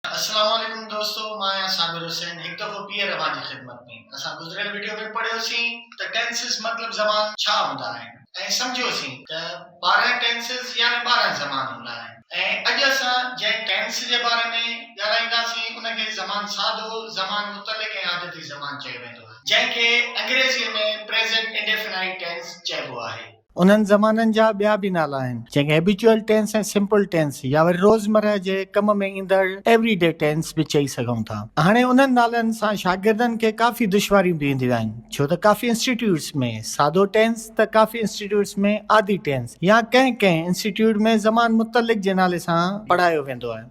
السلام عليڪم دوستو مان آهيان صابر حسين هڪ دفعو ٻيهر اوهان جي خدمت ۾ اسان گذريل وڊيو ۾ پڙهيو سين ته ٽينسز مطلب زمان ڇا هوندا آهن ۽ سمجهيو سين ته ٻارهن ٽينسز يعني ٻارهن زمان هوندا آهن ۽ اڄ اسان جنهن ٽينس جي باري ۾ ڳالهائيندا سين ان کي زمان ساڌو، زمان متعلق ۽ عادتي زمان چيو ويندو آهي جنهن کي انگريزي ۾ پريزنٽ انڊيفنائيٽ ٽينس چئبو آهي. انهن زمانن جا ٻيا به نالا آهن، جن کي هيبيچوئل ٽينس ۽ سمپل ٽينس يا وري روزمرهه جي ڪم ۾ ايندڙ ايوري ڊي ٽينس به چئي سگهون ٿا. هاڻي انهن نالن سان شاگردن کي ڪافي دشواريون به اينديون آهن، ڇو ته ڪافي انسٽيٽيوٽس ۾ سادو ٽينس ته ڪافي انسٽيٽيوٽس ۾ عادي ٽينس يا ڪنهن ڪنهن انسٽيٽيوٽ ۾ زمان متعلق جي نالي سان پڙهايو ويندو آهي.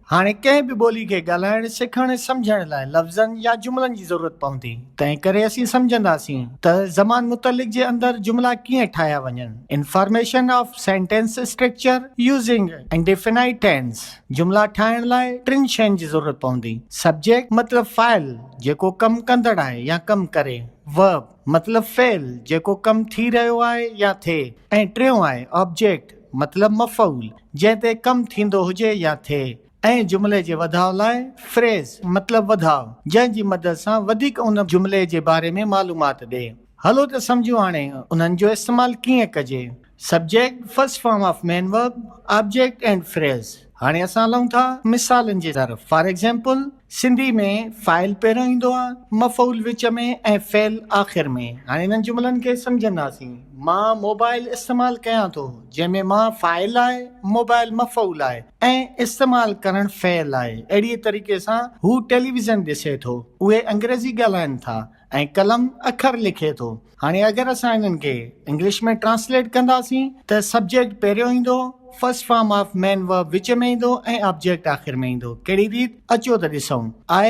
هاڻي ڪنهن به ٻولي کي ڳالهائڻ، سکڻ ۽ سمجهڻ لاء لفظن يا جملن جي ضرورت پوندي، تنهن ڪري اسين سمجهنداسين ته زمان متعلق جي اندر جملا ڪيئن ٺاهيا وڃن، Information of Sentence Structure Using Indefinite Tense، جملا ٺاهڻ لاء ٽن شين جي ضرورت پوندي، Subject مطلب فاعل، جيڪو ڪم ڪندڙ آهي يا ڪم ڪري، Verb مطلب فعل، جيڪو ڪم ٿي رهيو آهي يا ٿئي، ۽ ٽيون آهي Object مطلب مفعول، جنهن تي ڪم ٿيندو هجي يا ٿئي ۽ جملي جي وڌاء لاء Phrase، مطلب وڌاء، جنهن جي مدد سان وڌيڪ ان جملي جي باري ۾ معلومات ڏئي. هلو ته سمجهون هاڻي انهن جو استعمال ڪيئن ڪجي. Subject، First form of main verb، Object and Phrase هاڻي اسان هلون ٿا مثالن جي طرف Fore Example، سنڌي ۾ فاعل پهريون ايندو آ، مفعول وچ ۾ ۽ فعل آخر ۾. هاڻي انهن جملن کي سمجهنداسين. مان موبائل استعمال ڪيان ٿو، جنهن ۾ مان فاعل آهي، موبائل مفعول آهي ۽ استعمال ڪرڻ فعل آهي. اهڙيء طريقي سان هو ٽيليويزن ڏسي ٿو. اهي انگريزي ڳالهائين ٿا. ۽ قلم اکر لکي ٿو. هاڻي اگر اسان انهن کي انگلش ۾ ٽرانسليٽ ڪنداسين ته سبجيڪٽ پهريون ايندو، first form of main verb وچ ۾ ايندو ۽ آبجيڪٽ آخر ۾ ايندو. ڪهڙي ريت؟ اچو ته ڏسون. آء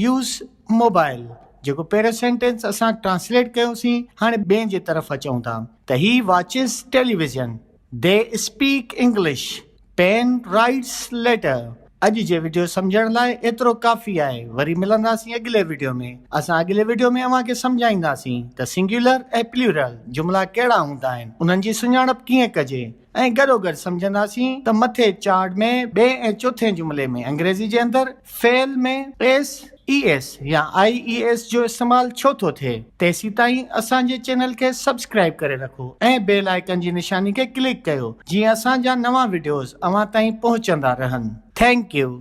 يوز موبائل جيڪو پهريون سينٽينس اسان ٽرانسليٽ ڪيوسين هاڻي ٻين جي طرف اچون ٿا ته he watches television. They speak English, pen writes letter. اڄ جي وڊيو سمجهڻ لاء ايترو ڪافي آهي وري ملنداسين اڳلي وڊيو ۾ اسان اڳلي وڊيو ۾ اوهان کي سمجهائينداسين ته سنگيولر ۽ پليورل جملا ڪهڙا هوندا آهن انهن جي سڃاڻپ ڪيئن ڪجي ۽ گڏوگڏ سمجهنداسين ته مٿي چارڊ ۾ ٻئي ۽ چوٿين جملي ۾ انگريزي جي اندر فعل ۾ ايس اي ايس يا آء اي ايس جو استعمال ڇو ٿو ٿئي؟ تيسيتائين اسان جي چينل کي سبسڪرائيب ڪري رکو ۽ بيل آئيڪن جي نشاني کي ڪلڪ ڪيو جيئن اسان جا نوان وڊيوز اوهان تائين پهچندا رهن. Thank U.